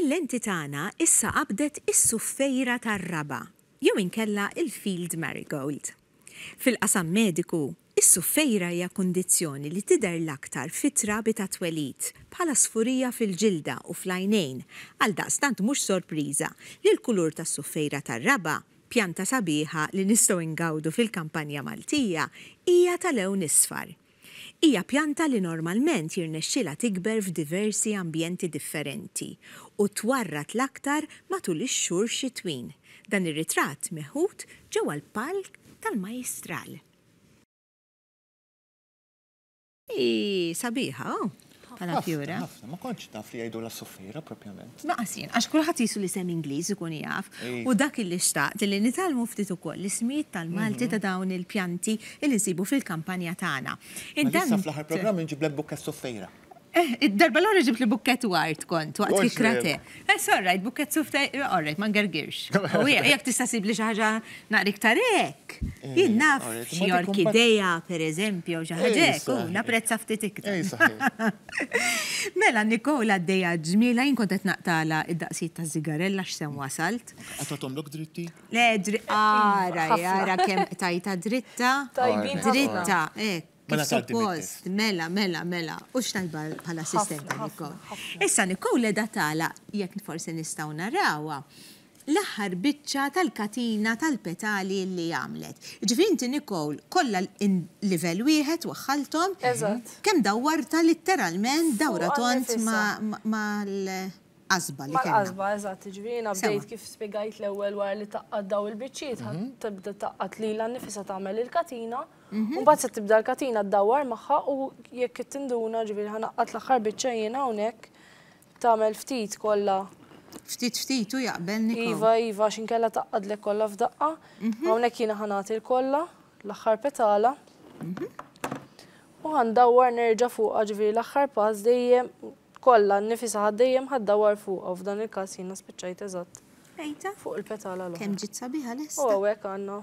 Il-lenti tagħna issa qabdet is-suffejra tar-raba', jew inkella l-field marigold. Fil-qasam mediku, is-suffejra hija kundizzjoni li tidher l-aktar fit-trabi tat-twelid, bħala sfurija fil-ġilda u fl-għajnejn, għaldaqstant mhux sorpriża li l-kulur tas-suffejra tar-raba' Pjanta sabiħa li nistgħu ingawdu fil-kampanja Maltija hija ta' lewn isfar. Hija pjanta li normalment jirnexxilha tikber f'diversi ambjenti differenti u twarrad l-aktar matul ix-xhur xitwin. Dan ir-ritratt meħud ġewwa l-Palk tal-Majjistral. Hi sabiħa, bħala fjura. Ħafna, ma kontx naf li jgħidulha suffiera propjament. Laqas jien, għax kulħadd qisu l-isem Ingliż ikun jaf. U dak illi xtaqt li nitgħallmu ftit ukoll l-ismijiet tal-Malti ta' dawn il-pjanti illi nsibu fil-kampanja tagħna. Mela issa fl-aħħar programm inġiblek bukkett suffiera. Eħ, id-darba l-oħra ġibtli bukkett ward kont, waqt kikra te. It's all right, bukkett suf ta' All right, ma ngergirx. Jekk tista' ssibli xi ħaġa naqra iktar hekk, jien naf xi orkidea, pereżempju, jew xi ħaġa hekk, u napprezza ftit iktar. Mela Nicole għaddejja ġmielha, jien kont qed naqtagħlha d-daqsijiet taż-żigarella x'sew wasalt. Qatt ma tagħmlok dritti? Le, ara, ara kemm qtajtha dritta. Tajbin. Dritta, hekk. Mela talbi mit-test. Kif suppost, mela, mela, mela. Hux tajba bħala assistenta, Nicole. Ħafna, ħafna. Issa Nicole qiegħda tagħlaq, jekk forsi nistgħu narawha, l-aħħar biċċa tal-katina tal-petali li għamlet. Jiġifieri inti Nicole kollha livell wieħed waħħalthom. Eżatt. Kemm dawwartha litteralment dawra tond mal-qasba li kellha. Mal-qasba, eżatt. Jiġifieri jiena bdejt kif spjegajt l-ewwel wara li tgħaqqad dawn il-biċċiet, ħadd tibda tgħaqqad lilha nnifisha tagħmel il-katina. U mbagħad se tibda l-katina ddawwar magħha u jekk qed tinduna ġifieri ħanaqqat l-aħħar biċċa jiena hawnhekk tagħmel ftit kollha. Ftit ftit hu jaqbel Niko. Iva, iva għax inkella tgħaqqadlek kollha f'daqqa. Hawnhekk jiena ħanagħti l-kollha l-aħħar petala. U ħandawwar nerġa' fuqha ġifieri l-aħħar pass dejjem Kollha, nnifisha ħadt dejjem ħadd dawar fuqha u f'dan il-każ jiena spiċċajt eżatt fuq il-petala l-oħra. Kemm ġiet sabiħa lesta! U hawnhekk għandna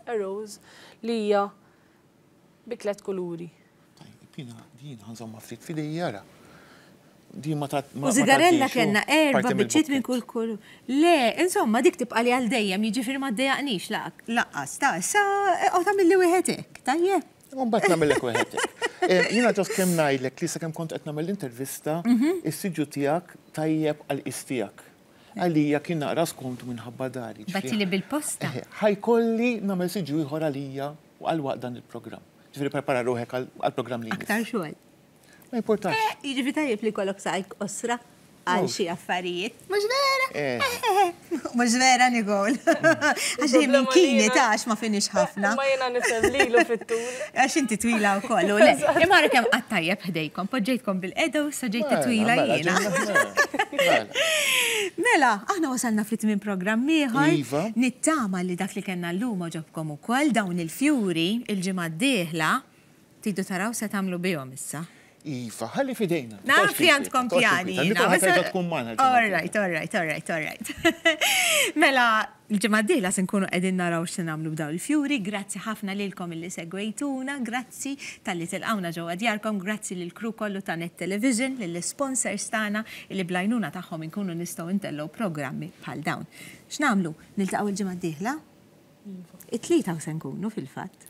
a rose li hija bi tliet kuluri. Tajjeb, jiena din ħa nżommha ftit f'idejja ara. Din ma ta. U sigarella kellna erba' biċċiet minn kull kulur. Le, insomma dik tibqali għal dejjem, jiġifieri ma ddejaqnix lanqas. Ta, issa eqgħod għamilli wieħed hekk, tajjeb? Mbagħad nagħmellek wieħed. Eh, jiena ġost kemm ngħidlek li sakemm kont qed nagħmel intervista, mhm. is-siġu tiegħek tajjeb għal qis tiegħek. Għalija kien naqra skontu minħabba dari. Bati li bil-posta. Eh, ħajkolli nagħmel siġu ieħor għalija u għal waqt dan il-programm. Ġifieri prepara ruħek għall-programm li. Aktar xogħol. Ma importax. Eh, jiġifi tajjeb li kollok sajk osra għal oh. xi affarijiet. Mhux vera? Eh. Mhux vera Nikol. Għax li minn kini tax ma finix ħafna. Ma jiena nifhem lilu fit-tul. Għax inti twila wkoll. Imma kemm qatt tajjeb ħdejkom, poġġejtkom bil-qeda u sa ġejt twila mela, jiena. Mela, aħna wasalna fit minn programm ieħor. Iva. Nittama li dak li kellna llum oġobkom ukoll dawn il-fjuri il-ġimgħa d-dieħla. Tridu taraw se tagħmlu bihom issa. Iva, ħalli fidejna. Naf li għandkom pjani. All right, all right, all right, all right. Mela, l-ġimgħa d-dieħla se nkunu qegħdin naraw x'se nagħmlu b'dawn il-fjuri. Grazzi ħafna lilkom illi segwejtuna, grazzi talli tilqawna ġewwa djarkom, grazzi lill-crew kollu ta' Net Television, lill-isponsors tagħna illi bl-għajnuna tagħhom inkunu nistgħu ntellgħu programmi bħal dawn. X'nagħmlu? Niltaqgħu l-ġimgħa d-dieħla? It-Tlieta hawn se nkunu fil-fatt.